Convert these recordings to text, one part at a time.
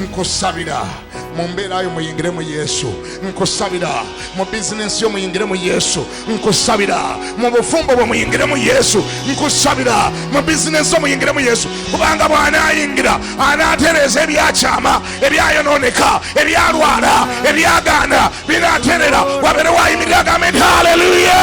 nkusabira mu mbeera yo muyingire mu yesu nkusabira mu bizinensi yo muyingire mu yesu nkusabira mu bufumbo bwe muyingire mu yesu nkusabira mu bizinensi yo muyingire mu yesu kubanga bw'anaayingira anaatereeza ebyakyama ebyayonooneka ebyalwala ebyagaana binaaterera wabeerewo ayimirira agambe nti haleluya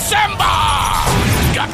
December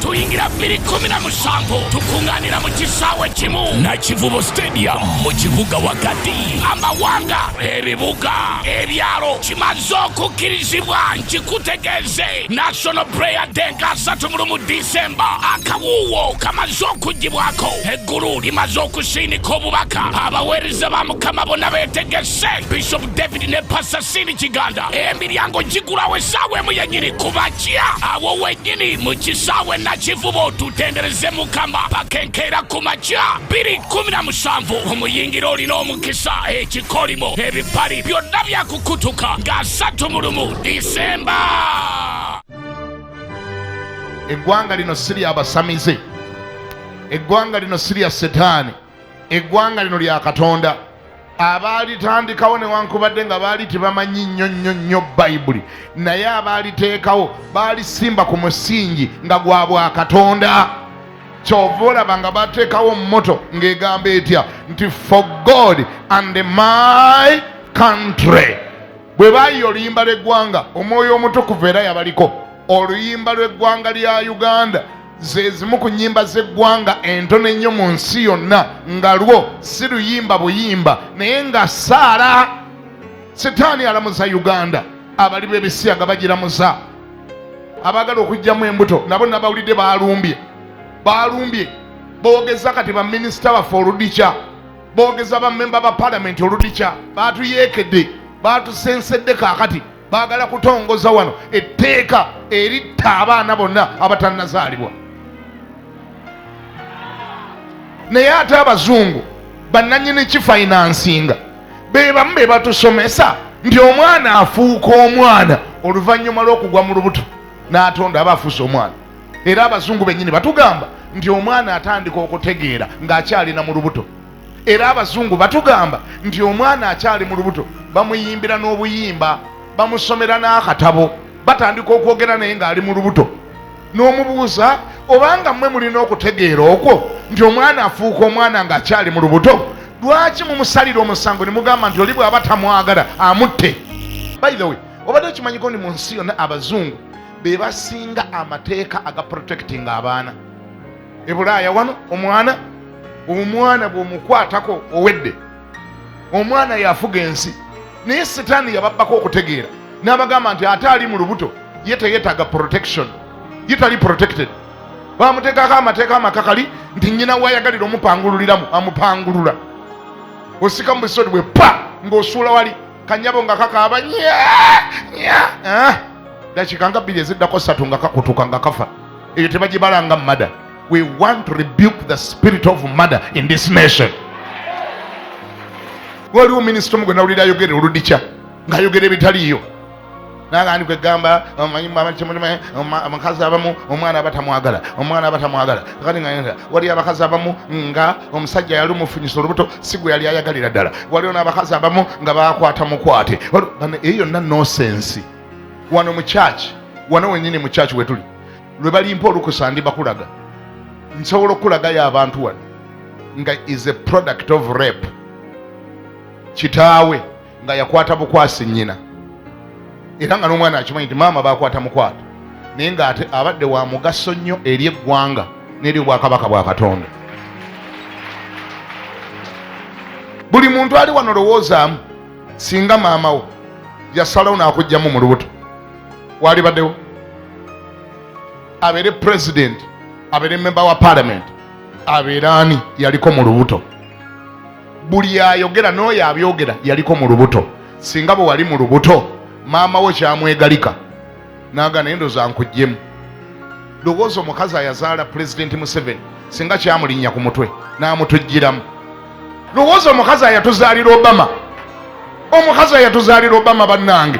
tuyingira bbiri kumi na musanvu tukuŋŋaanira mu kisaawe kimu na kivubo stadium mu kibuga wakati amawanga ebibuga ebyalo kimaze okukkirizibwa nkikutegeeze national prayer day nga asatu mu lumu disemba akawuuwo kamaze okugibwako eggulu limaze okusiinika obubaka abaweereza ba mukama bona beetegese se bishop david ne pasa sini kiganda emiryango gigulawo esaawa emu yenyini kubakya awo wenyini mu kisaawe nakivubo tutendereze mukama pakenkeera ku makya biri kumi na musanvu omuyingira olina omukisa ekikolimo ebipali byonna byakukutuka nga asatu mu lumu disemba eggwanga lino si lyabasamize eggwanga lino si lya setaani eggwanga lino lya katonda abaalitandikawo newankubadde nga baali tebamanyi nnyo nnyo nnyo bayibuli naye abaaliteekawo baalisimba ku musingi nga gwa bwa katonda kyova olaba nga bateekawo moto ng'egamba etya nti for god and my country bwe bayiye oluyimba lw'eggwanga omwoyo omutukuvu era yabaliko oluyimba lw'eggwanga lya uganda ze zimu ku nnyimba z'eggwanga entono ennyo mu nsi yonna nga lwo si luyimba buyimba naye nga saala sitaani alamuza uganda abali b'ebisiyaga bagiramuza abaagala okugyamu embuto nabo nabawulidde balumbye balumbye boogeza kati baminisita baffe oludikya boogeza bamemba ba palamenti oludikya batuyeekedde batusensedde kaakati baagala kutongoza wano etteeka eritta abaana bonna abatannazaalibwa naye ate abazungu bannanyini kifainansinga be bamu be batusomesa nti omwana afuuka omwana oluvannyuma lw'okugwa mu lubuto n'atonda aba afuuse omwana era abazungu bennyini batugamba nti omwana atandika okutegeera ng'akyalina mu lubuto era abazungu batugamba nti omwana akyali mu lubuto bamuyimbira n'obuyimba bamusomera n'akatabo batandika okwogera naye ng'ali mu lubuto n'omubuuza obanga mmwe mulina okutegeera okwo nti omwana afuuka omwana ng'akyali mu lubuto lwaki mumusalira omusango ne mugamba nti oli bw'aba tamwagala amutte by the way obadde okimanyiko ni mu nsi yonna abazungu be basinga amateeka aga protecting abaana ebulaaya wano omwana omwana bwomukwatako owedde omwana yafuga ensi naye sitaani yababbako okutegeera n'abagamba nti ate ali mu lubuto ye teyetaaga protection ye tali protected bamuteekako amateeka amakakali nti nyina wayagalira omupangululiramu amupangulula osika mu bisodi bwe pa ng'osuula wali kanyabo nga kakaaba nya nya eh? dakiika nga bbiri eziddako satu nga kakutuka nga kafa eyo tebagibalanga mada we want to rebuke the spirit of mada in this nation waliwo minisita omugwe nawulira ayogera oludikya ng'ayogera ebitaliiyo nagandi kwegamba omanyi abakimulimu abakazi abamu omwana aba tamwagala omwana aba tamwagala kati nga waliyo abakazi abamu nga omusajja yali omufunyisa olubuto si gwe yali ayagalira ddala waliyo n'abakazi abamu nga bakwata mukwate eyo yonna nosensi wano mu kyaki wano wenyini mu kyaki wetuli lwe balimpa olukusa ndi bakulaga nsobola okukulagayo abantu wano nga is a product of rape kitaawe nga yakwata bukwasi nnyina era nga n'omwana akimanyi nti maama bakwata mukwata naye nga ate abadde wa mugaso nnyo eri eggwanga n'eri obwakabaka bwa katonda buli muntu ali wano lowoozaamu singa maama wo yasalawo n'akugjamu mu lubuto waalibaddewo abeere pulezidenti abeere memba wa palamenti abeere ani yaliko mu lubuto buli ayogera n'oyo abyogera yaliko mu lubuto singa bwe wali mu lubuto maama wo kyamwegalika naga naye ndoza nkujjemu lowooza omukazi ayazaala pulezidenti museveni singa kyamulinnya ku mutwe n'amutujjiramu lowooza omukazi ayatuzaalira obama omukazi ayatuzaalira obama bannange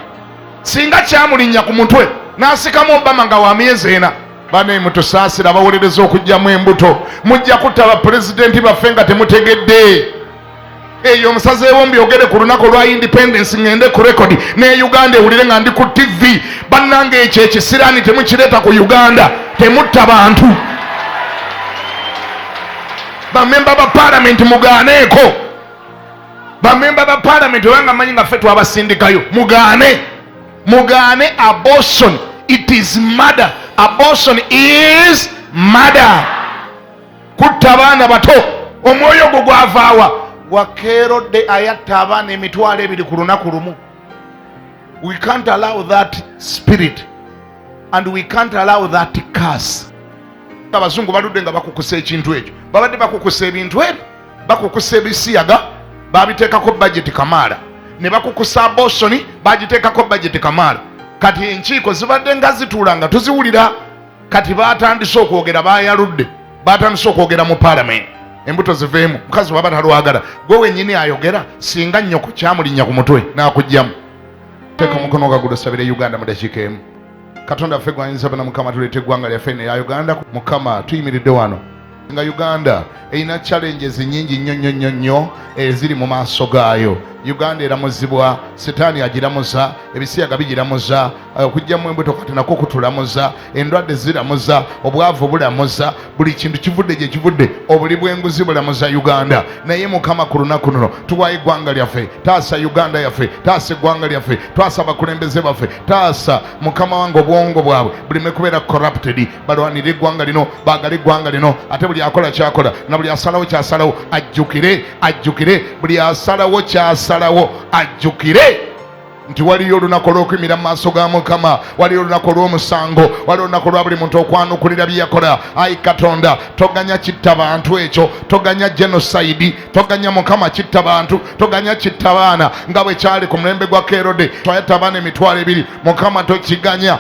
singa kyamulinnya ku mutwe n'asikamu obama nga wa myezi ena bane mutusaasira abawolereza okugyamu embuto mujja kutta bapulezidenti baffe nga temutegedde eyo omusazi ewombi ogere ku lunaku olwa independence ngende ku rekodi ne uganda ewulire nga ndi ku tivi bannanga ekyo ekisiraani temukireeta ku uganda temutta bantu bamemba ba palamenti mugaaneeko bamemba ba palamenti obanga manyi nga ffe twabasindikayo mugaane mugaane abortion it is murder abortion is murder kutta abaana bato omwoyo ogwo gwavaawa wakeerodde ayatta abaana emitwalo ebiri ku lunaku lumu we can't allow that spirit and we can't allow that curse abazungu baludde nga bakukusa ekintu ekyo babadde bakukusa ebintu ebyo bakukusa ebisiyaga babiteekako bajeti kamaala ne bakukusa abosoni bagiteekako bajeti kamaala kati enkiiko zibadde nga zituula nga tuziwulira kati batandise okwogera bayaludde batandise okwogera mu palamenti embuto ziveemu mukazi waba talwagala gwe wenyini ayogera singa nyoko kyamulinya ku mutwe nakugjamu teeka omukono ogagulu sabire uganda mu dakiika emu katonda ffe gwayinza bana mukama tuleeta eggwanga lyaffe neya uganda mukama tuyimiridde wano nga uganda erina challenges nyingi nnyo nnyo nnyo nnyo eziri eh, mu maaso gaayo uganda eramuzibwa sitaani agiramuza ebisiyaga bigiramuza eh, okugyamu embuto kati nakwo kutulamuza endwadde ziramuza obwavu bulamuza buli kintu kivudde gye kivudde obuli bw'enguzi bulamuza uganda naye mukama ku lunaku luno tuwayo eggwanga lyaffe taasa uganda yaffe taasa eggwanga lyaffe twasa abakulembeze baffe taasa mukama wange obwongo bwabwe buleme kubeera corrupted balwanire eggwanga lino baagale eggwanga lino ate buli akola kyakola na buli asalawo kyasalawo ajjukire ajjukire buli asalawo kyasalawo ajjukire nti waliyo olunaku olw'okwimira mu maaso ga mukama waliyo olunaku olw'omusango waliyo olunaku lwa buli muntu okwanukulira byeyakola ayi katonda toganya kitta bantu ekyo toganya genocide toganya mukama kitta bantu toganya kitta baana nga bwe kyali ku mulembe gwa kerode twayatta abaana emitwalo ebiri mukama tokiganya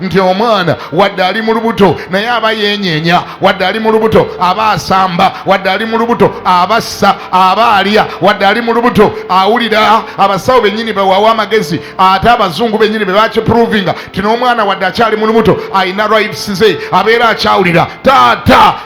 nti omwana wadde ali mu lubuto naye aba yenyenya wadde ali mu lubuto aba asamba wadde ali mu lubuto aba assa aba alya wadde ali mu lubuto awulira abasawo bennyini bewawa amagezi ate abazungu bennyini be bakiprovinga ti n'omwana wadde akyali mu lubuto alina rights ze abeera akyawulira taata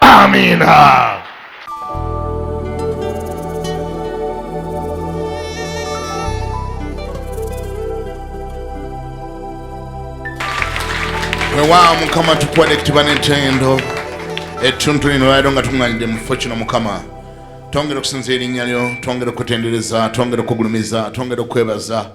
Amina. wewaawo mukama tukwade kitiba n'entendo etuntu lino lwaliro nga tuŋŋanidde mu kifo kino mukama twongera okusinza erinnya lyo twongera okutendereza twongera okugulumiza twongera okwebaza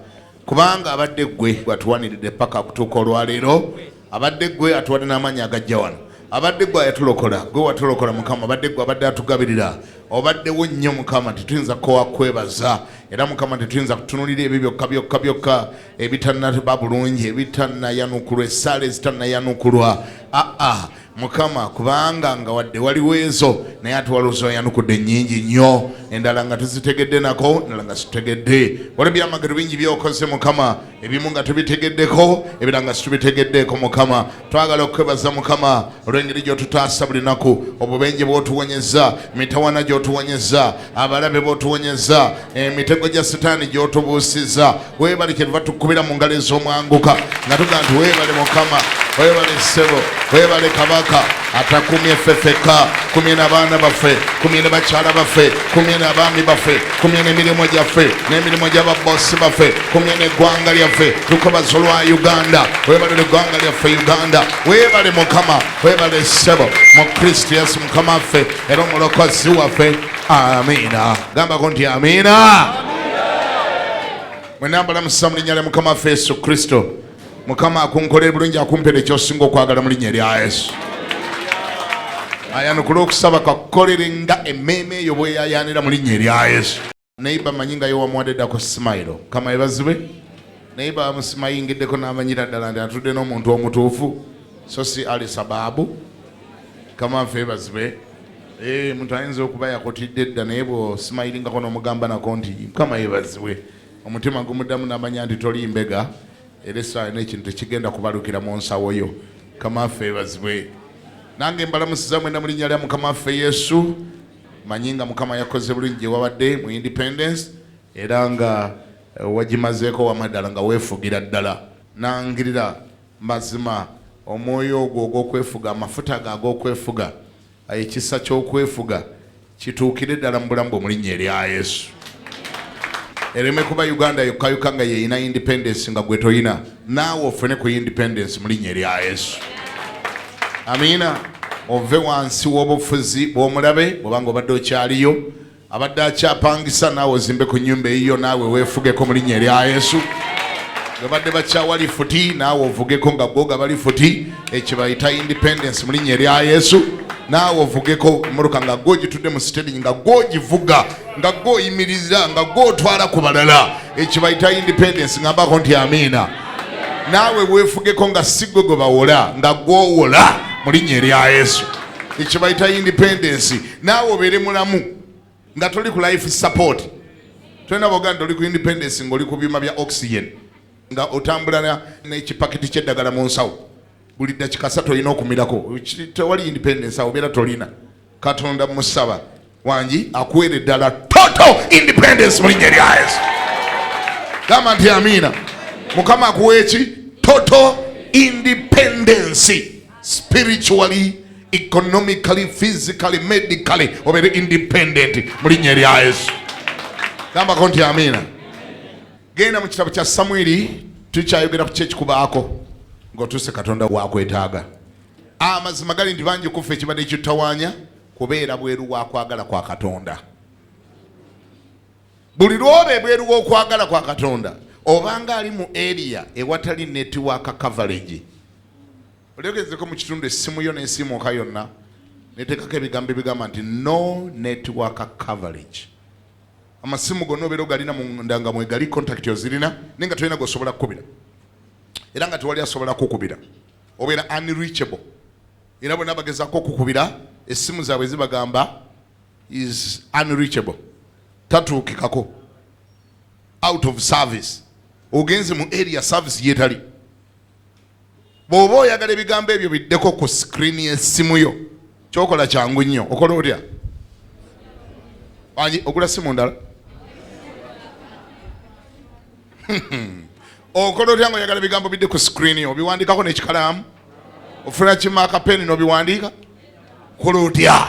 kubanga abadde gwe gwatuwaniridde paka kutuuka olwaleero abadde gwe atuwadde n'amaanyi agajja wano abadde gwe ayatulokola gwe watulokola mukama abadde gwe abadde atugabirira obaddewo nnyo mukama tetuyinza kowa kwebaza era mukama tetuyinza kutunulira ebyo byokka byokka byokka ebitanaba bulungi ebitanayanukulwa esaala ezitanayanukulwa aa mukama kubanga nga wadde waliwo ezo naye ate waliwo zoyanukudde nyingi nnyo endala nga tuzitegedde nako endala nga situtegedde waliwo byamagero bingi byokoze mukama ebimu nga tubitegeddeko ebira nga situbitegeddeeko mukama twagala okukwebaza mukama olw'engeri gyotutaasa buli naku obubenje bwotuwonyeza mitawana gyotuwonyeza abalabe botuwonyeza emitego gya sitaani gyotubuusiza webale kyetuva tukubira mu ngalo ez'omwanguka nga tuga nti webale mukama webale ssebo webale kabaka atakumye ffe fekka kumye nabaana baffe kumye ne bakyala baffe kumye nabaami baffe kumye nemirimu gyaffe nemirimu gyababosi baffe kumye neggwanga lyaffe tukobaza olwa uganda webale neggwanga lyaffe uganda webale mukama webale ssebo mu kristo yesu mukama waffe era omulokozi waffe amiina gambako nti amiina mwenambala musa mu linnya lya mukama waffe yesu kristo mukama akunkolera bulungi akumpera ekyosinga okwagala mu linnya lya yesu ayanukula okusaba kakukolere nga emmeeme eyo bweyayaanira mu linnya erya yesu neiba manyi nga yowamuwadde dako simailo kama ebazibwe neiba amusimayingiddeko namanyira ddala nti atudde n'omuntu omutuufu so si ali sababu kama nfe ebazibwe eh, muntu ayinza okuba yakotidde dda naye bwosimayilingako nomugamba nako nti kama ebazibwe omutima gumuddamu namanya nti toli mbega era esaawa nekintu tekigenda kubalukira mu nsawo yo kama nfe ebazibwe nange mbalamusiza mwena mu linnya lya mukama waffe yesu manyi nga mukama yakoze bulungi gyewabadde mu independence era nga eh, wagimazeeko wamaddala nga weefugira ddala nangirira mazima omwoyo ogwo ogwokwefuga amafuta ago agokwefuga eh, ekisa kyokwefuga kituukire ddala mu bulamu bwe mulinnya erya yesu ereme kuba uganda yokkayokka nga yeyina independence nga gwe toyina naawe ofune ku independence mu linnya erya yesu amiina ove wansi w'obufuzi bw'omulabe bwobanga obadde okyaliyo abadde akyapangisa naawe ozimbe ku nyumba eyiyo naawe weefugeko mu linnya erya yesu babadde bakyawa lifuti naawe ovugeko nga gwoga bali futi ekibayita independence mu linnya erya yesu naawe ovugeko emotoka nga gwogitudde mu siteringi nga gwogivuga nga gwe oyimiriza nga gwe otwala ku balala ekibayita independence ngambako nti amiina naawe weefugeko nga si gwe gwe bawola nga gwowola mu linnya erya yesu ekibayita independence naawe obeere mulamu nga toli ku life support tolina boga nti oli ku independence ngaoli ku byuma bya oxygen nga otambula n'ekipakiti ky'eddagala mu nsawo buli dakika satu olina okumirako tewali independence awo obeera tolina katonda musaba wangi akuwere ddala total independence mu linnya lya yesu gamba nti amiina mukama akuwa eki total independence spiritually economically physically medically obeere independent mu linnya erya yesu gambako nti amiina genda mu kitabo kya samwiri tukyayogera ku kyekikubaako ng'otuuse katonda wakwetaaga amazima gali nti bangi kuffe ekibadde kitutawanya kubeera bweru wa kwagala kwa katonda buli lwoba ebweru w'okwagala kwa katonda obanga ali mu eriya ewatali netiwaaka coverage olyogezeko mu kitundu essimu yo n'esimuuka yonna neteekako ebigambo ebigamba nti no netiwaaka coverage amasimu gonna obeera ogalina munda nga mwegali contact ozirina naye nga tolina gosobola kukubira era nga tewali asobola kukubira obeera unreachable era bona bagezako okukubira essimu zaabwe zibagamba is unreachable tatuukikako out of service ogenze mu area service yetali bwoba oyagala ebigambo ebyo biddeko ku screen yesimu yo kyokola kyangu nnyo okola otya ogula simu ndala okola otya nga oyagala bigambo bidde ku sikirini obiwandikako nekikalaamu ofuna kimaaka peni nobiwandiika kola otya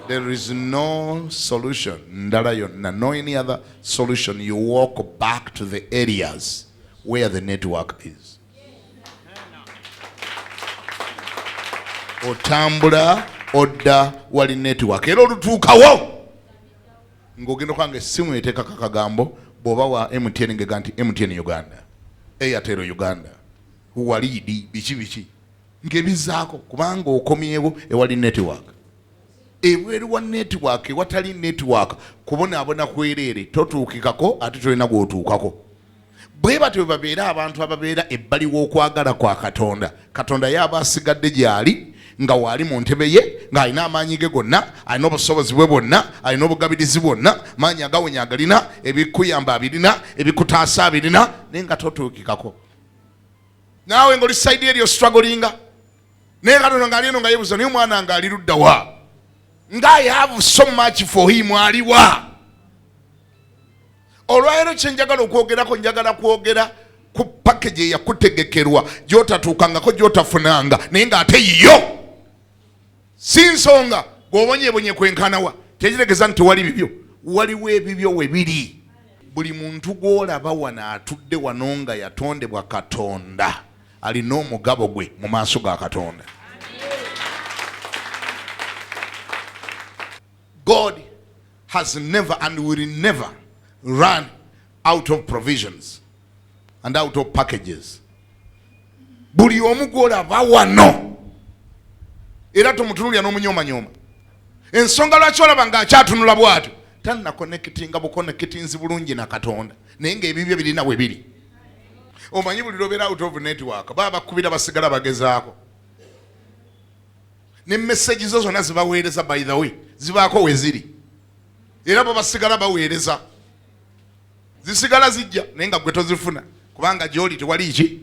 there is no solution ndala yonna no any other solution you walk back to the areas where the network is otambula odda wali network era olutuukawo ng'ogenda okubanga essimu eteekako akagambo bw'oba wa mtn ngega nti mtn uganda airtel uganda waliidi biki biki ngebizaako kubanga okomyewo ewali network ebweru wa network ewatali network kubonaabona kwereere totuukikako ate tolina gwotuukako bwe batyo bwe babeera abantu ababeera ebbali w'okwagala kwa katonda katonda ye aba asigadde gyali nga waali mu ntebe ye ng'alina amaanyi ge gonna alina obusobozi bwe bwonna alina obugabirizi bwonna maanyi agawonya agalina ebikuyamba abirina ebikutaasa abirina naye nga totuukikako naawe ngaoli saidi eryo strugglinga naye katono ngaali eno nga yebuza naye omwana nga ali luddawa nga i have so much for him aliwa olwaleero kyenjagala okwogerako njagala kwogera ku package eyakutegekerwa gyotatuukangako gyotafunanga naye nga ate yiyo si nsonga gwobonyebonye kwenkanawa tekitegeza nti tewali bibyo waliwo ebibyo webiri buli muntu gwolaba wano atudde wano nga yatondebwa katonda alina omugabo gwe mu maaso ga katonda God has never and will never run out of provisions and out of packages. Buli omu gwolaba wano era tomutunulira n'omunyomanyooma. Ensonga lwaki olaba ng'akyatunula bw'atyo tanakonekitinga bukonekitinzi bulungi na Katonda naye ng'ebibyo birina we biri. Omanyi buli lwobeera out of network baba bakubira basigala bagezaako. ne message zo zonna zibaweereza by the way zibaako weziri era bo basigala baweereza zisigala zijja naye nga gwe tozifuna kubanga gyoli tewali ki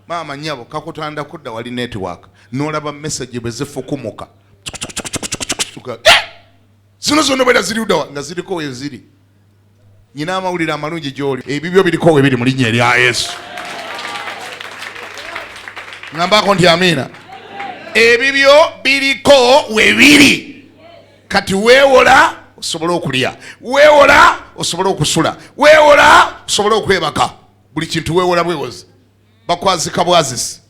maama nyabo kakutanda kudda wali network nolaba message bwe zifukumuka eh! zino zonna obeera ziriudawa nga ziriko weziri nyina amawulire amalungi gyoli ebibyo biriko we biri mu linnya erya yesu ngambako nti amiina ebibyo biriko we biri kati weewola osobole okulya weewola osobole okusula weewola osobole okwebaka buli kintu weewola bwewozi bakwazika bwazisi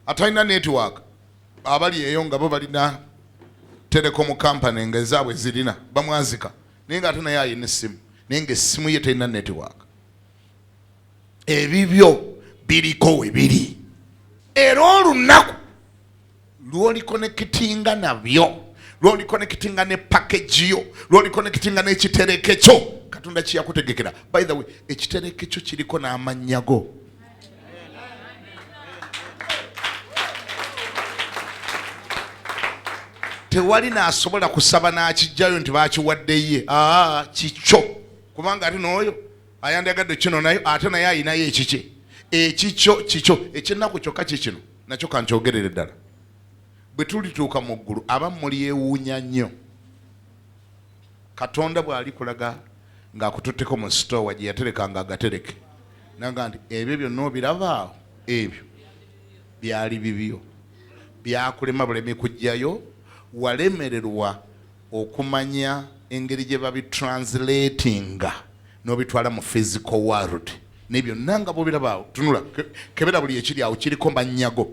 atalina netiwaaka abali eyo nga bo balina telekomu kampani nga ezaabwe zirina bamwazika naye nga ate naye alina essimu naye nga essimu ye terina netiwaaka ebibyo biriko we biri era olunaku lwolikonekitinga nabyo lwolikonekitinga ne pakeji yo lwolikonekitinga n'ekitereke kyo katonda kyeyakutegekera by the way ekitereke kyo kiriko n'amannya go tewali nasobola kusaba nakijjayo nti bakiwaddeye aa kikyo kubanga ati nooyo ayandagadde kino nayo ate naye ayinayo ekikye ekikyo kikyo ekyennaku kyokka kikino nakyo kankyogerere ddala bwe tulituuka mu ggulu abamu mulyewuunya nnyo Katonda bw'alikulaga ng'akututteko mu sitoowa gye yaterekanga agatereke naga nti ebyo byonna obirabaawo ebyo byali bibyo byakulema bulemi kujjayo walemererwa okumanya engeri gye babitranslatinga n'obitwala mu physical world naye byonna nga bwobirabaawo tunula kebera buli ekiri awo kiriko mannyago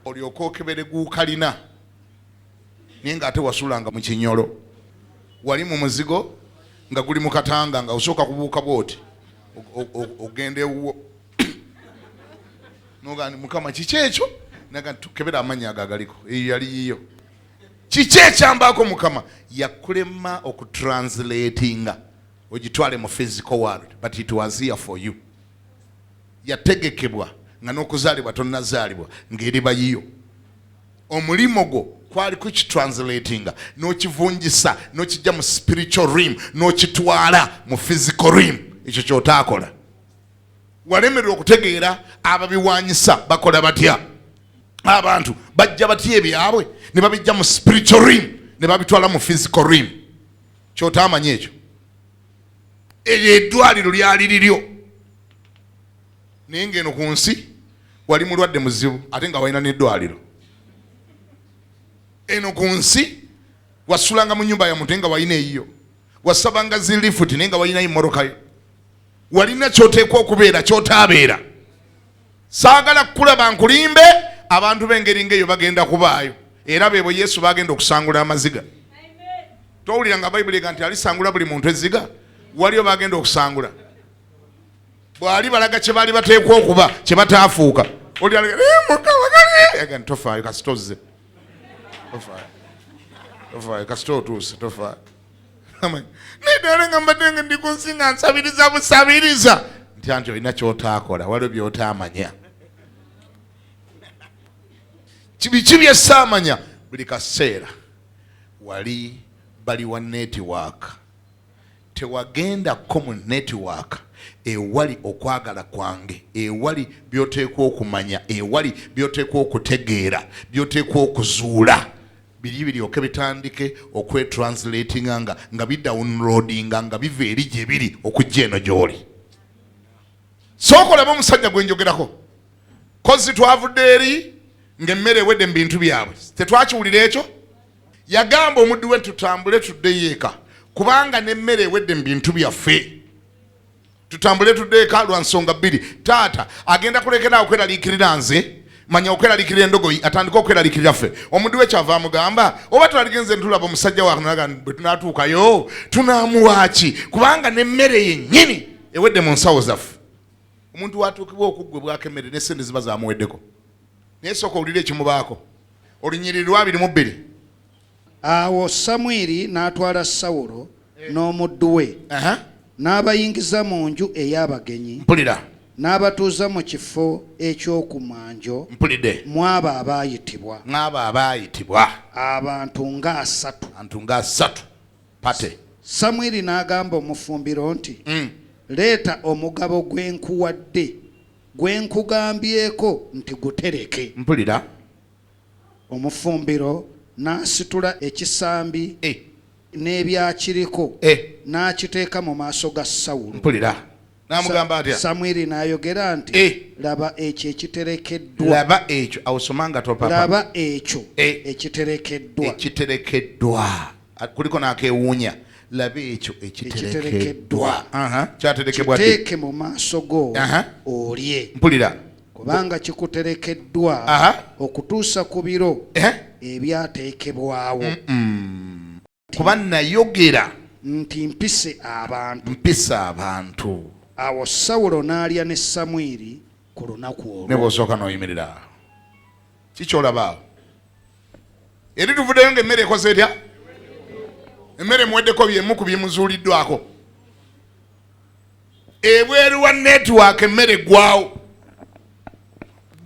olyoka okebere guukalina naye nga ate wasulanga mu kinyolo wali mu muzigo nga guli mu katanga nga osooka kubuuka bwoti ogenda ewuwo noga ni mukama kiki ekyo naga tukebera amannya ago agaliko eyo yali yiyo kiki ekyambaako mukama yakulema okutranslatinga ogitwale mu physical world but it was here for you yategekebwa nga n'okuzaalibwa tonnazaalibwa ng'eriba yiyo omulimu gwo kwali kukitranslatinga n'okivunjisa n'okijja mu spiritual rim n'okitwala mu physical rim ekyo kyotaakola walemererwa okutegeera ababiwanyisa bakola batya abantu bajja batya ebyabwe ne babijja mu spiritual rim ne babitwala mu physical rim kyotaamanya ekyo eryo edwaliro lyali liryo naye ng'eno ku nsi wali mulwadde muzibu ate nga walina n'eddwaliro eno ku nsi wasulanga mu nyumba ya muntu naye nga walina eyiyo wasabanga zilifuti naye nga walinayo morokayo walina kyoteekwa okubeera kyotaabeera saagala kukulaba nkulimbe abantu b'engeri ngaeyo bagenda kubaayo era beebo yesu bagenda okusangula amaziga towulira nga bayibuli ega nti alisangula buli muntu ezziga waliyo bagenda okusangula bwali balaga kye baali bateekwa okuba kye bataafuuka eh, tofaayo kasita ozze tofaayo kasita otuuse tofaayo naye dala nga mbadde nga ndi ku nsi nga nsabiriza busabiriza nti anti olina kyotaakola waliwo byotaamanya biki byessaamanya buli kaseera wali bali wa netiwaaka Tewagenda ko mu netiwaaka ewali okwagala kwange, ewali by'oteekwa okumanya, ewali by'oteekwa okutegeera, by'oteekwa okuzuula biri biryoke bitandike okwetranslatinga nga nga bidawunulodinga nga biva eri gye biri okujja eno gy'oli. Sookolaba omusajja gwe njogerako kozi twavudde eri ng'emmere ewedde mu bintu byabwe tetwakiwulira ekyo. Yagamba omuddu we tutambule tuddeyo eka kubanga n'emmere ewedde mu bintu byaffe. Tutambule tuddeyo eka lwa nsonga bbiri. Taata agenda kulekera okweraliikirira nze manya okweralikirira endogoyi atandika okweralikirira ffe omuddu we kyava amugamba oba twaligenze ntulaba omusajja waga bwe tunatuukayo tunamuwaaki kubanga nemmere yennyini ewedde mu nsawo zaffe omuntu watuukibwa okuggwe bwakemmere nesente ziba zamuweddeko naye sooka owulire ekimubaako Olunyiriri lw'abiri mu bbiri. Awo Samwiri n'atwala Sawulo eh. n'omuddu we n'abayingiza mu nju ey'abagenyi. Mpulira. n'abatuuza mu kifo eky'oku mwanjo mw'abo abaayitibwa mw'abo abaayitibwa abantu ng'asatu abantu ng'asatu pate samwiri n'agamba omufumbiro nti mm. leeta omugabo gwe nkuwadde Gwe nkugambyeko nti gutereke. Mpulira. Omufumbiro n'asitula ekisambi Eh. n'ebyakiriko Eh. n'akiteeka mu maaso ga Sawulo. Mpulira. N'amugamba atya? Samwiri n'ayogera nti, Eh. Laba ekyo ekiterekeddwa. Laba ekyo. Awo soma nga topapa. Laba ekyo Eh. ekiterekeddwa. Ekiterekeddwa. kuliko n'akewuunya laba ekyo ekiterekeddwa kyaterekebwakiteeke mu maaso go olye mpulira kubanga kikuterekeddwa okutuusa ku biro eh? ebyateekebwawo kuba nayogera nti mpise abantu mpise abantu awo sawulo n'alya ne samwiri ku lunaku olwo ne bw'osooka n'oyimirira kikyolabaawo eri tuvuddeyo nga emmere ekoze etya emmere muweddeko byemu ku byemuzuuliddwako ebweru wa netiwaaka emmere eggwawo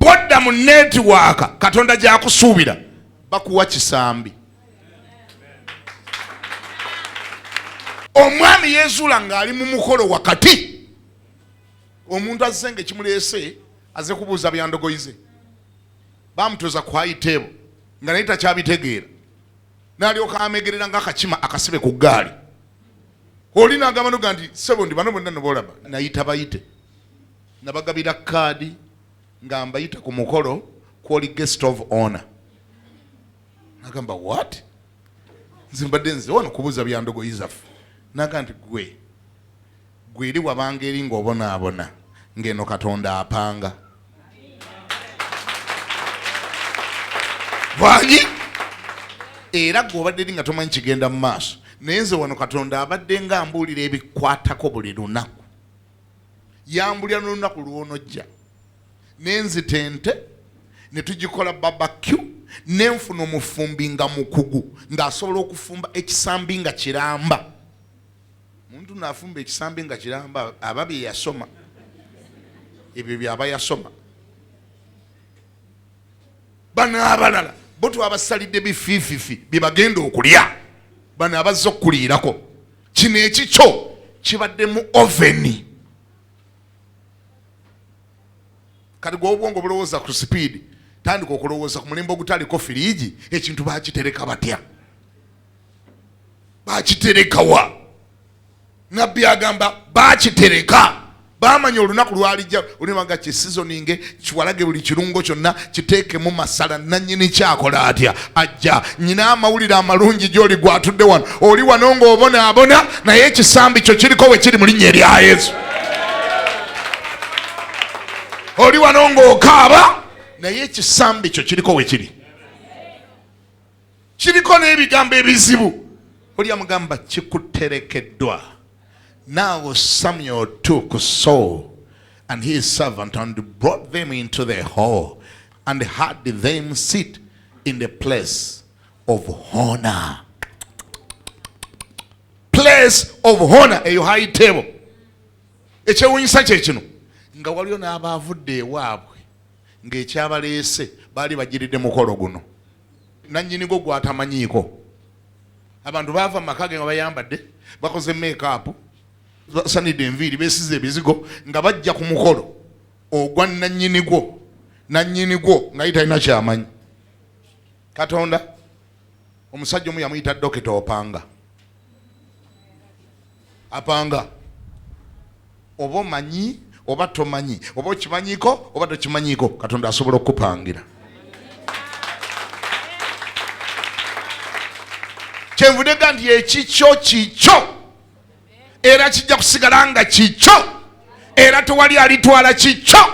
bwodda mu netiwaaka katonda gyakusuubira bakuwa kisambi omwami yezuula ng'ali mu mukolo wakati omuntu azze nga ekimuleese aze kubuuza byandogoyize bamutuza ku high table nga naye takyabitegeera nalyoka amegerera nga akakima akasibe ku gaali oli nagamba noga nti sebo ndi bano bonna nobolaba nayita bayite nabagabira kaadi nga mbayita ku mukolo kwoli guest of honor nagamba what nzimbadde nze wano kubuza byandogoyi zaffe naga nti gwe Gwe eri wabanga eri ng'obonaabona ng'eno Katonda apanga. Bwanyi era gwe obadde eri nga tomanyi kigenda mu maaso naye nze wano Katonda abadde nga ambuulira ebikwatako buli lunaku. Yambulira n'olunaku lw'onojja ne nzita ente ne tugikola babakyu ne nfuna omufumbi nga mukugu ng'asobola okufumba ekisambi nga kiramba. muntu nafumba ekisambi nga kiramba aba byeyasoma ebyo byaba yasoma bano abalala bo twabasalidde bifiififi byebagenda okulya bano abazze okukuliirako kino ekikyo kibadde mu oveni kati gwe obwongo bulowooza ku sipiidi tandika okulowooza ku mulembe ogutaliko firiigi ekintu bakitereka batya bakiterekawa nabbi agamba bakitereka bamanya olunaku lwalijja olimanga kisizoninge kiwalage buli kirungo kyonna kiteekemu masala nanyini kyakola atya ajja nyina amawulire amalungi gyoli gwatudde wano oli wano ng'obonaabona naye ekisambi kyo kiriko we kiri mu linnya erya yesu oli wano ng'okaaba naye ekisambi kyo kiriko we kiri kiriko n'ebigambo ebizibu olya mugamba kikuterekeddwa naawe samuel to ku saul and his servant and brought them into the hall and had them sit in the place of honor place of honor eyo high table ekyewunyisa kyekino nga waliwo n'abaavudde ewaabwe ng'ekyabaleese baali bagiridde mukolo guno nannyini go gwatamanyiiko abantu baava mu maka ge nga bayambadde bakoze meekaapu basanidde enviiri besize ebizigo nga bajja ku mukolo ogwa nannyini gwo nannyini gwo nga ye talina kyamanyi katonda omusajja omu yamuyita dokita opanga Apanga oba omanyi oba tomanyi oba okimanyiko oba tokimanyiko katonda asobola okukupangira kyenvude ga nti ekikyo kikyo era kijja kusigala nga kikyo era tewali alitwala kikyo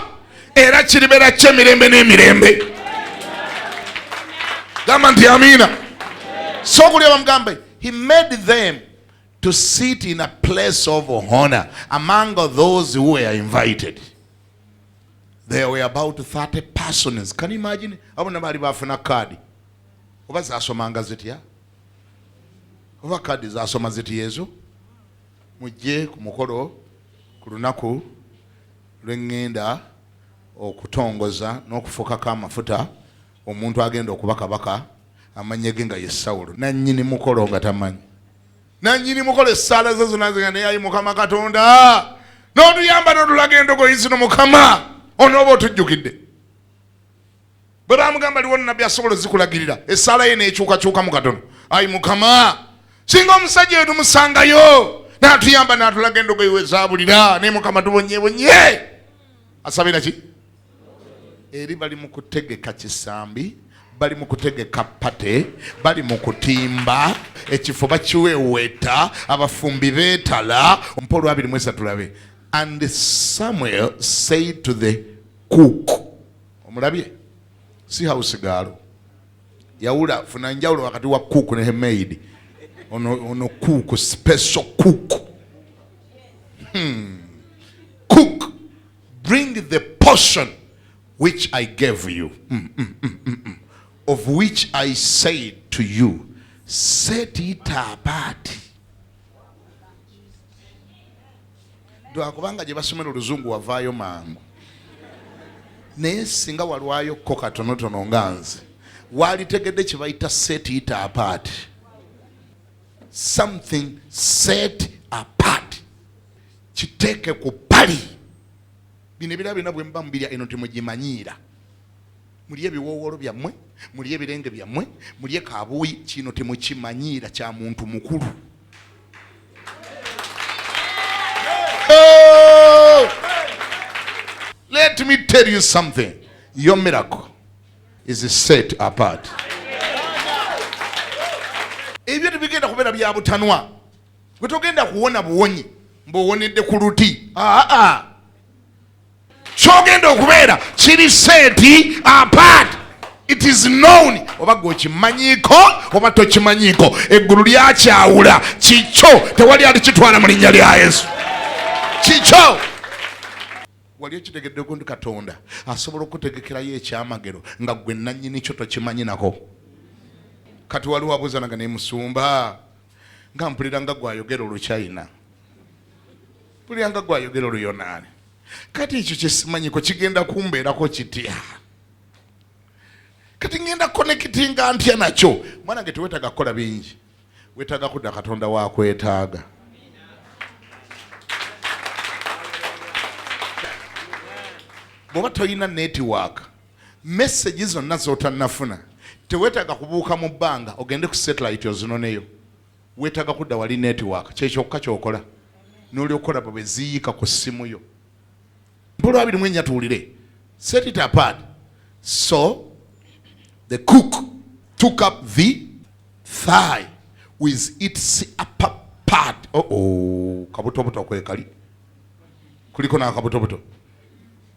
era kiribeera kyo emirembe n'emirembe gamba nti amiina sokulya bamugambe he made them to sit in a place of honor among those who were invited. There were about 30 persons. Can you imagine? Abo nabali bafuna kadi. Oba zasomanga zitya? Oba kadi zasoma zitya ezo? Mujje ku mukolo ku lunaku lwe ŋŋenda okutongoza n'okufukako amafuta omuntu agenda okuba kabaka amanyege nga ye Sawulo nannyini mukolo nga tamanyi. nanyini mukola essaala ze zona zinga naye ayi mukama katonda notuyamba notulaga endogoyi zino mukama onooba otujjukidde bwe bamugamba liwono nabbi asobola ozikulagirira essaala ye nekyukakyuka mu katono ayi mukama singa omusajja oyo tumusangayo natuyamba natulaga endogoyi wezabulira naye mukama tubonyebonye asabira ki eri bali mu kutegeka kisambi bali mu kutegeka pate bali mu kutimba ekifo bakiweweeta abafumbi beetala mpa olwabiri mwesa tulabe and samuel said to the cook omulabye si house gaalo yawula funa njawulo wakati wa cook ne maid ono, ono cook special cook hmm. bring the portion which I gave you mm, mm, mm, mm, mm. of which I said to you set it apart lwakubanga gye basomera oluzungu wavaayo mangu naye singa walwayo ko katonotono nga nze walitegedde kyebayita set it apart something set apart kiteeke ku bbali bino ebira byona bwemuba mubirya eno temugimanyiira mulye ebiwoowoolo byammwe mulye ebirenge byammwe mulye kabuuyi kino temukimanyiira kya muntu mukulu let me tell you something your miracle is set apart ebyo tebigenda kubeera bya butanwa gwe togenda kuwona buwonyi mbuwonedde ku luti aa kyogenda okubeera kiri senti apart it is known oba gwe okimanyiiko oba tokimanyiiko eggulu lyakyawula kikyo tewali alikitwala mu linnya lya yesu kikyo wali okitegeddeko nti katonda asobola okutegekerayo ekyamagero nga gwe nannyini kyo tokimanyinako kati waliwo abuuzanaga nemusumba nga mpulira nga gwayogera oluchina mpulira nga gwayogera oluyonaani kati ekyo kyesimanyiko kigenda kumbeerako kitya kati ngenda konekitinga ntya nakyo mwana nge tewetaga kukola bingi wetaga kudda katonda wakwetaaga bwoba tolina netiwaaka message zonna zotannafuna tewetaaga kubuuka mu bbanga ogende ku satellite ozinoneyo wetaaga kudda wali network kyekyokka kyokola nolyokola bwe ziyiika ku ssimu yo bulwabiri mwenya tuwulire set it apart so the cook took up the thigh with its upper part oh, oh. kabutobuto kwekali kuliko n'akabutobuto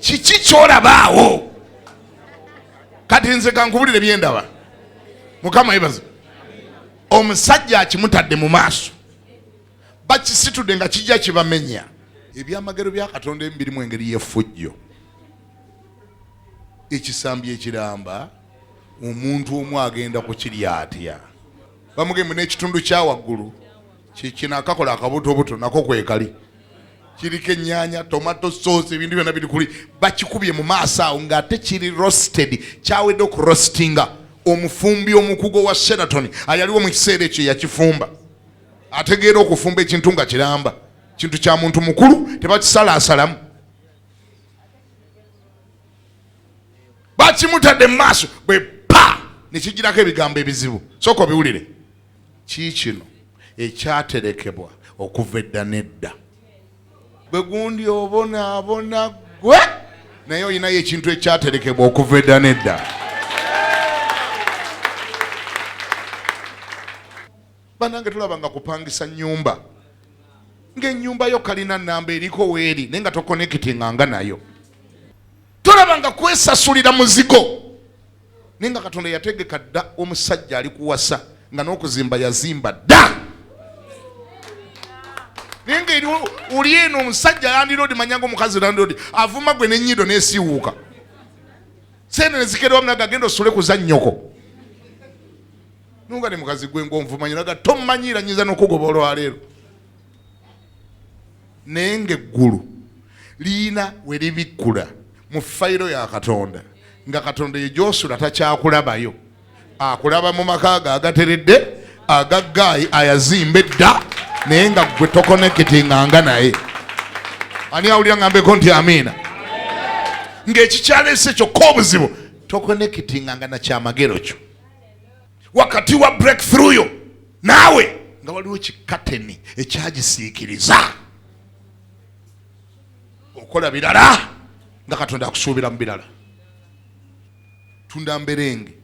kiki kyolabaawo kati nze kankubulire byendaba mukama yebaza omusajja akimutadde mu maaso bakisitude nga kijja kibamenya ebyamagero bya katonda ebimu birimu engeri yefujjo ekisambi ekiramba omuntu omu agenda kukirya atya bamugee munekitundu kyawaggulu kikino akakola akabutobuto nako kwekali kiriko enyanya tomato sauce ebintu byona biri kuli bakikubye mu maaso awo ngaate kiri rosted kyawedde okurostinga omufumbi omukugo wa sheraton ayaliwo mu kiseera ekyo yakifumba ategeera okufumba ekintu nga kiramba kintu kya muntu mukulu tebakisalasalamu bakimutadde mu maaso bwe pa nekigirako ebigambo ebizibu sooka obiwulire kiikino ekyaterekebwa okuva edda nedda gwe gundi obonaabona gwe naye olinayo ekintu ekyaterekebwa okuva edda nedda banange tulaba nga kupangisa nyumba ngaenyumba yo kalina namba eriko weeri naye nga tokonekitinga nga nayo tolaba nga kwesasulira muzigo naye nga katonda yategeka dda omusajja ali kuwasa nga n'okuzimba yazimba dda naye nga eri oli eno omusajja landiroodi manyanga omukazi landiroodi avuma gwe nenyido nesiwuuka sente nezikerewamunaga agenda osule kuzannyoko nunga ne mukazi gwe ng'onvumanya olaga tommanyiira nyinza n'okugoba olwaleero naye ng'eggulu liyina we libikkula mu fayiro ya katonda nga katonda eyo gyosula takyakulabayo akulaba mu maka ge agateredde agaggaayi ayazimba edda naye nga gwe tokonekitinganga naye ani awulira ngambeko nti amiina ng'ekikyalese kyokka obuzibu tokonekitinganga nakyamagero kyo wakati wa breakthrough yo naawe nga waliwo kikateni ekyagisiikiriza okola birala nga katonda akusuubira mu birala tunda mberenge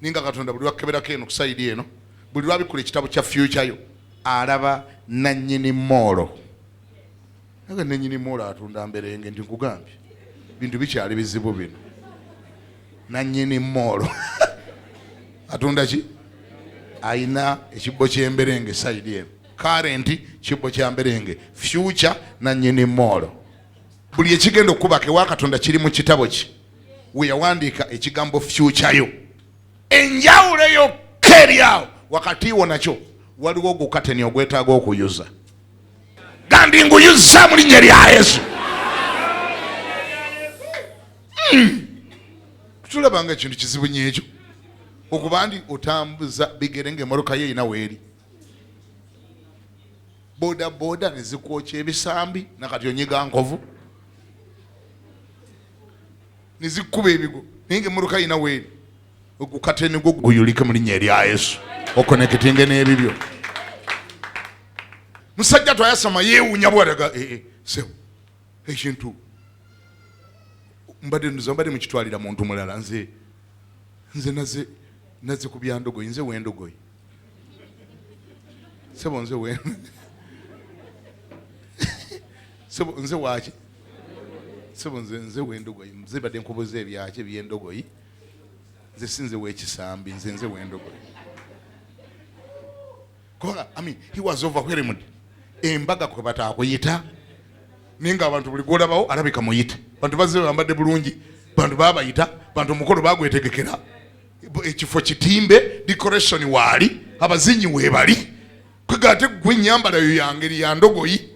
naye nga katonda buli wakeberako eno kusaidi eno buli lwabikula ekitabo kya fyukyayo alaba nanyini moolo naga nenyini mola atunda mberenge nti nkugambye bintu bikyali bizibu bino nanyini moolo atunda ki ayina ekibbo kyemberenge saidi eno karenti kibbo kyamberenge fyuca nanyini moolo buli ekigenda okukubaka ewakatonda kiri mu kitabo ki weyawandiika ekigambo fyucayo enjawulo yokka eryawo wakati wo nakyo waliwo ogukateni ogwetaaga okuyuza gandi nguyuzza mu linnya lya yesu hmm. tulaba nga ekintu kizibu nyo ekyo okuba ndi otambuza bigere nga emoroka yo erina weeri bodaboda nezikwokya ebisambi nakati onyiga nkovu nezikuba ebigo naye nga emoroka yina weeri ogukateni gwo guyulike mu linnya erya yesu okonekitinge n'ebibyo musajja twayasama yewunya bwalaga eh, eh, sebo ekintu mbadde nduza mbadde mukitwalira muntu mulala nze nze naze naze ku byandogoyi nze wendogoyi sebo nze we sebo nze waki sebo nze nze wendogoyi nze badde nkubuza ebyaki ebyendogoyi nze sinze wekisambi nze nze wendogoyi kubanga i mean he was overwhelmed embaga kwe batakuyita naye nga abantu buli gwolabawo alabika muyite bantu bazze bambadde bulungi bantu babayita bantu omukolo bagwetegekera ekifo kitimbe decoration waali abazinyi webali kwega ate gwe enyambala yo yangeri ya ndogoyi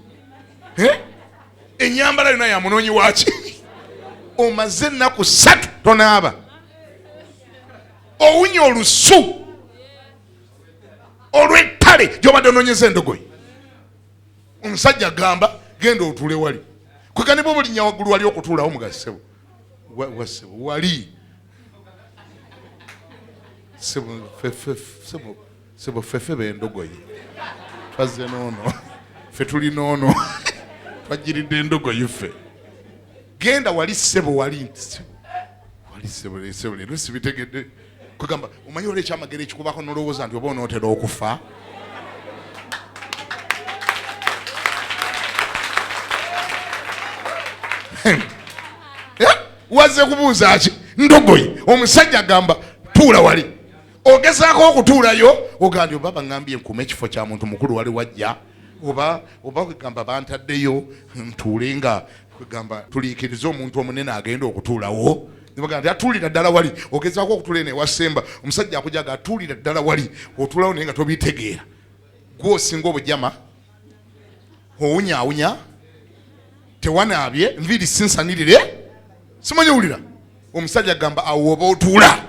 eh? enyambala yona ya munoonyi waki omaze ennaku ssatu tonaaba owunya olusu olw'ettale gyobadde ononyeza endogoyi omusajja agamba genda otule wali kwekane bwe bulinya waggulu wali okutuulawo mugazi sebo wasebo wali sebo fefe bendogoyi twazze noono fe tuli noono twajjiridde endogoyi ffe genda wali sebo wali nti sebo wali sebo sebo leero sibitegedde kwegamba omanyi olwo ekyamagero ekikubako nolowooza nti oba onootera okufa eh? wazze kubuuza ki ndogoyi omusajja agamba tuula wali ogezaako okutuulayo ogambye oba baŋambye nkuuma ekifo kya muntu mukulu wali wajja oba oba kwegamba bantaddeyo ntuule nga kwegamba tuliikirize omuntu omunene agenda okutuulawo Nibaga nti atulira ddala wali ogezaako okutula eno ewa Semba omusajja akujaga atulira ddala wali otulawo naye nga tobitegeera gwe osinga obujama owunyawunya tewanaabye nviiri sinsanirire simanyi wulira omusajja agamba awo oba otuula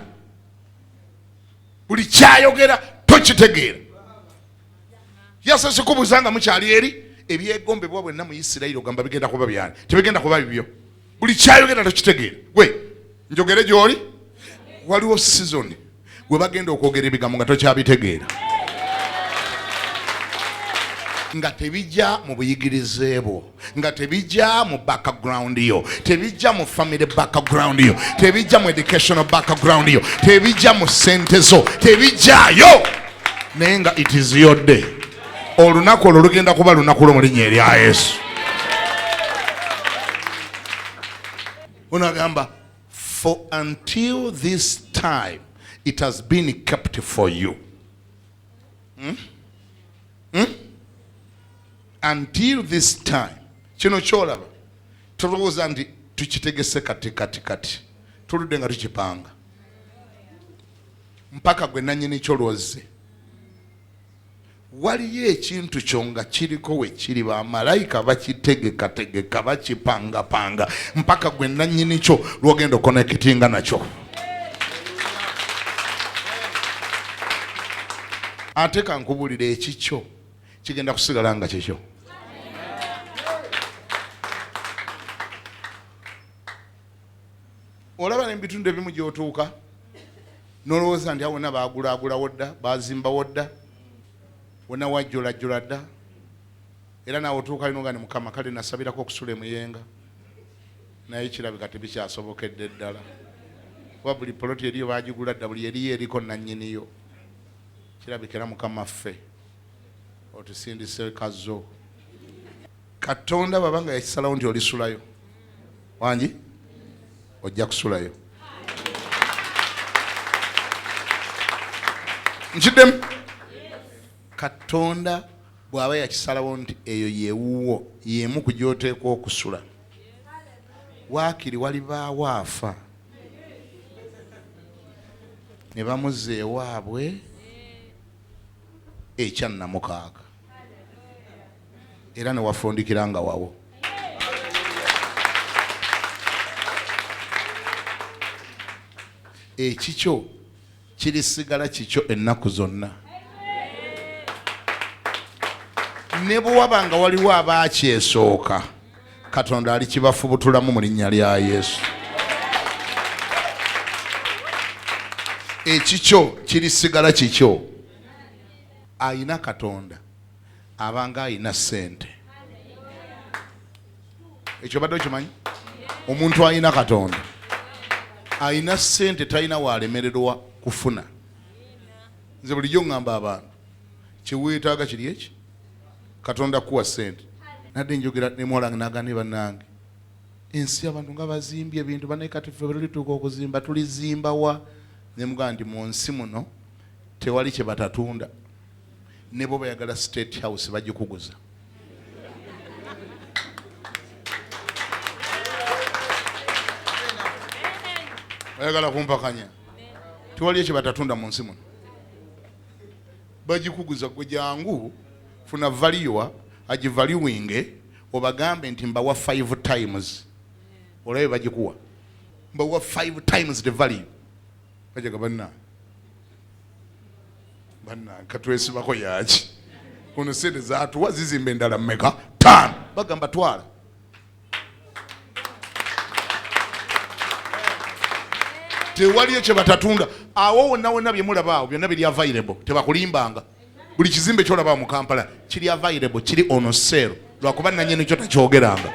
buli kyayogera tokitegeera yasese kubuuza nga mukyali eri ebyegombebwa bwenna mu isirayiri ogamba bigenda kuba byani tebigenda kuba bibyo buli kyayogera tokitegeera gwe njogere gyoli waliwo sizoni gwe bagenda okwogera ebigambo nga tokyabitegeera nga tebijja mu buyigirize bwo nga tebijja mu background yo tebijja mu family background yo tebijja mu educational background yo tebijja mu sente zo tebijjayo naye nga it is your day olunaku olwo lugenda kuba lunaku lwo mu linnya erya yesu unagamba for until this time it has been kept for you hmm? Hmm? until this time kino kyolaba tolowooza nti tukitegese kati kati kati tuludde nga tukipanga mpaka gwe nanyini kyo lwozze waliyo ekintu kyo nga kiriko we kiri bamalayika bakitegekategeka bakipangapanga mpaka gwe nannyini kyo lwogenda okonekitinga nakyo ate kankubulire ekikyo kigenda kusigala nga kikyo olaba ne mu bitundu ebimu gy'otuuka nolowooza nti awona baagulaagulawo dda baazimbawo dda wona wajjolajjola dda era naawe otuuka lino nga ne mukama kale nasabirako okusula emuyenga naye kirabika tebikyasobokedde ddala kuba buli poloti eriyo bagigula dda buli eriyo eriko nannyiniyo kirabika era mukama ffe otusindise kazo katonda bwaba nga yakisalawo nti olisulayo wangi ojja kusulayo nkiddemu katonda bwaba yakisalawo nti eyo yewuwo yemu ku gyoteekwa okusula waakiri walibaawo afa ne bamuzza ewaabwe ekyannamukaaga era newafundikira nga wawo ekikyo kirisigala kikyo ennaku zonna ne bwe waba nga waliwo abaakyesooka katonda alikibafubutulamu mu linnya lya yesu ekikyo kirisigala kikyo ayina katonda abanga alina sente ekyo badde okimanyi omuntu alina katonda alina sente talina walemererwa kufuna nze bulijjo ŋŋamba abantu kyeweetaaga kiri eki katonda kuwa sente nadde njogera nemwalange nagane banange ensi abantu nga bazimbye ebintu banaye kati fe bwetulituuka okuzimba tulizimbawa nemugaa nti mu nsi muno tewali kyebatatunda Nebo bayagala state house bagikuguza. Bayagala kumpakanya. Tewali ekyo batatunda mu nsi muno. Bagikuguza gwe jangu funa valiwa agivaliwinge obagambe nti mbawa five times olabe bagikuwa mbawa five times the value bajaga banna katwesibako yaki ono sente zatuwa zizimba endala meka tano bagamba twala tewaliyo kyebatatunda awo wonna wonna byemulaba awo byonna biri available tebakulimbanga buli kizimbe kyolaba mu kampala kiri available kiri ono sero lwakuba nanyini kyo takyogeranga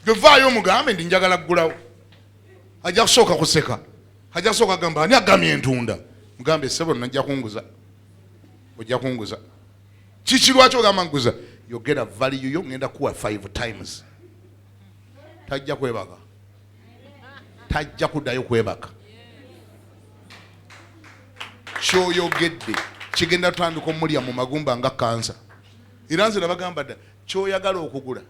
gwe vaayo omugambe ndi njagala kugulawo ajja kusooka kuseka ajja kusooka gamba ani agamya entunda mugambe sebo najja kunguza ojja kunguza kiki lwaki ogamba nkuza yogera valiyo yo ngenda kuwa five times tajja kwebaka tajja kuddayo kwebaka kyoyogedde kigenda tutandika omulya mu magumba nga kansa era nze nabagamba dda kyoyagala okugula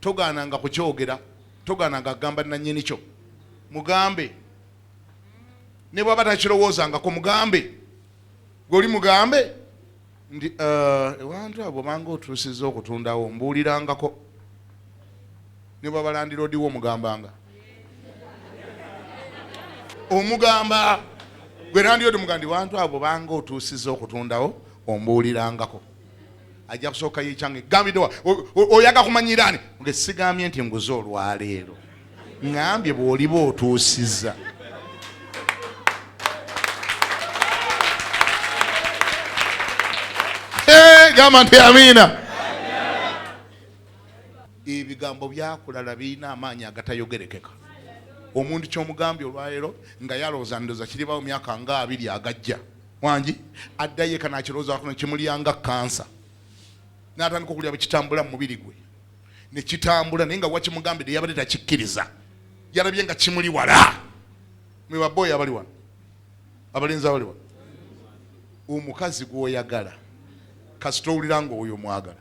Togaananga kukyogera, togaananga kugamba nannyini kyo. Mugambe ne bw'aba takirowoozangako, mugambe gwe oli mugambe nti uh, ewantu abo bwobanga otuusizza okutundawo mbuulirangako ne bwaba landiroodiwo omugambanga omugamba gwe landiroodi mugandi wantu abo banga otuusizza okutundawo ombuulirangako ajja kusooka yekyange gambidewa oyaga kumanyiraani nge sigambye nti nguze olwaleero ngambye bwoliba otuusiza gamba nti amiina ebigambo byakulala birina amaanyi agatayogerekeka omuntu kyomugambye olwaleero nga yalowooza ndoza kiribawo myaka nga abiri agajja wangi addayo eka nakirowoozaako nekimulyanga kansa natandika okulya bwekitambula mu mubiri gwe nekitambula naye nga wakimugambide yabadde takikkiriza yalabye nga kimuli wala mwebabooyo abali wano abalenzi abali wano omukazi gwoyagala kasita owulira nga oyo mwagala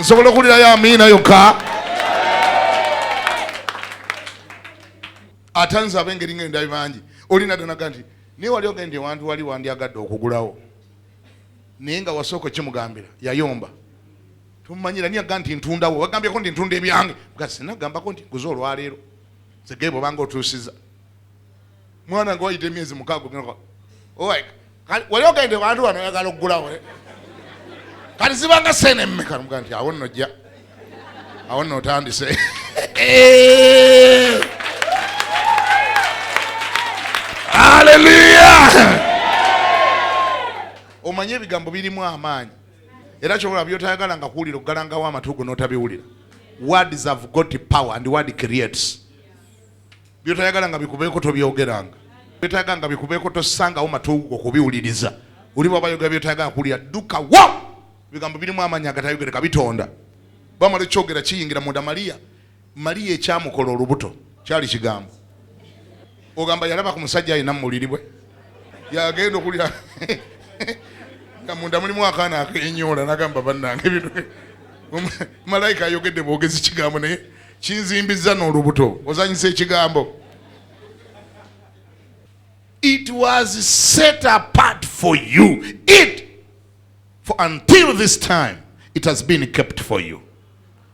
nsobola okuwulirayo amiina yokka ate nze abengeri nga endabi bangi olina donaga nti naye wali ogenda ewantu wali wandyagadde okugulawo naye nga wasooka okimugambira yayomba tumanyira niye aga nti ntundawo wagambyeko nti ntunda ebyange gasi nagambako nti guze olwaleero zegeebobanga otuusiza mwana nga wayita emyezi mukaaga ogenda owek wali ogende wantu wano oyagala okugulawo eh? kati zibanga sente mmeka muga nti awo nno jja awo nno otandise aleluya omanyi ebigambo birimu amaanyi era kyobola byotayagala nga kuwulira okugalangawo amatuugo n'otabiwulira words have got power and word creates byotayagala nga bikubeeko tobyogeranga byotayagala nga bikubeeko tosangawo matuugo kubiwuliriza oli bwaba yogera byotayagala kuwulira dduka wo ebigambo birimu amaanyi agatayogereka bitonda bamala ekyogera kiyingira munda maliya maliya ekyamukola olubuto kyali kigambo ogamba yalaba ku musajja alina mumuliri bwe yagenda okulira nga munda mulimu akaana akenyoola nagamba bannange bino malayika ayogedde bwogezi kigambo naye kinzimbizza n'olubuto ozanyisa ekigambo it was set apart for you it for until this time it has been kept for you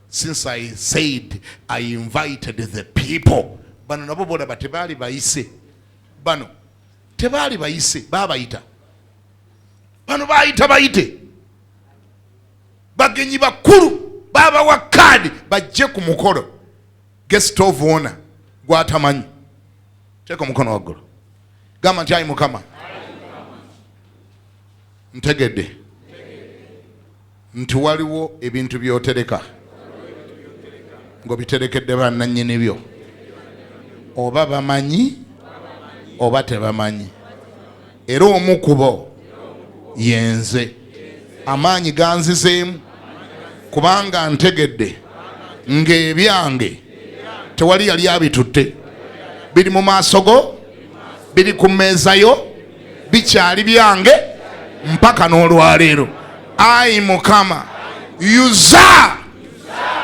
since i said i invited the people bano nabo bolaba tebaali bayise bano tebaali bayise babayita bano bayita bayite bagenyi bakulu babawa kaadi bajje ku mukolo guest of honor gwatamanyi teeka omukono waggulu gamba nti ayi mukama ntegedde nti waliwo ebintu byotereka ngaobiterekedde bananyini byo oba bamanyi oba tebamanyi era omu kubo yenze amaanyi ganzizeemu kubanga ntegedde ng'ebyange tewali yali abitutte biri mu maaso go biri ku mmeeza yo bikyali byange mpaka n'olwaleero ayi mukama yuza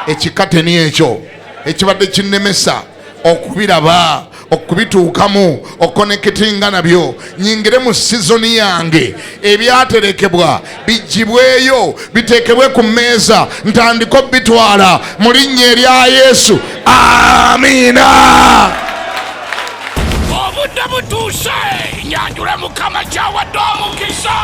ekikateni ekyo ekibadde kinnemesa okubiraba okubituukamu okukonekitinga nabyo nyingire mu sizoni yange ebyaterekebwa bigibweyo biteekebwe ku mmeeza ntandika obitwala mu linnya erya yesu amiina obudde butuuse nyanjule mukama kyawadde omukisa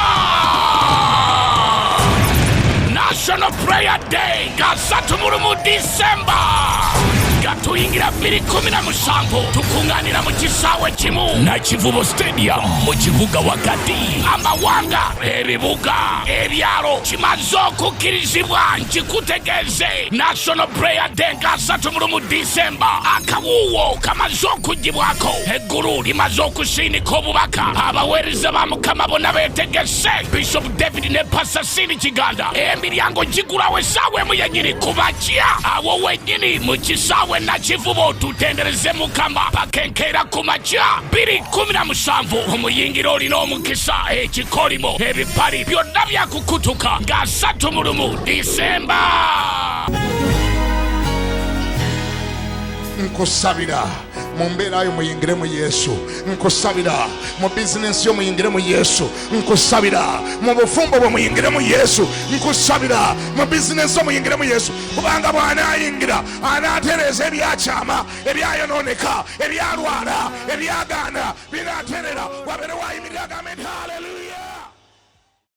national prayer day nga satu mu lumu disemba tuyingira bbiri kumi na musanvu tukuŋŋaanira mu kisaawe kimu nakivubo stadium mu kibuga wakati amawanga ebibuga ebyalo kimaze okukkirizibwa nkikutegeeza Day, National Prayer Day nga asatu mulumu December. Akawuuwo kamaze okugibwako. Eggulu limaze okusiinika obubaka. Abaweereza ba Mukama bona beetegese. Bishop David ne Pastor Sini Kiganda. Emiryango gigulawo essaawa emu yennyini kuba kya. Awo wennyini mu kisaawe nakivubo tutendereze Mukama pakenkeera ku makya. Biri kumi na musanvu omuyingira olina omukisa ekikolimo ebipali byonna byaku kutuka nga asatu mu lumu disemba nkusabira mu mbeera yo muyingire mu yesu nkusabira mu bizinensi yo muyingire mu yesu nkusabira mu bufumbo bwe muyingire mu yesu nkusabira mu bizinensi yo muyingire mu yesu kubanga bw'anaayingira anaatereeza ebyakyama ebyayonooneka ebyalwala ebyagaana binaaterera wabeerewo ayimirira agambe nti haleluya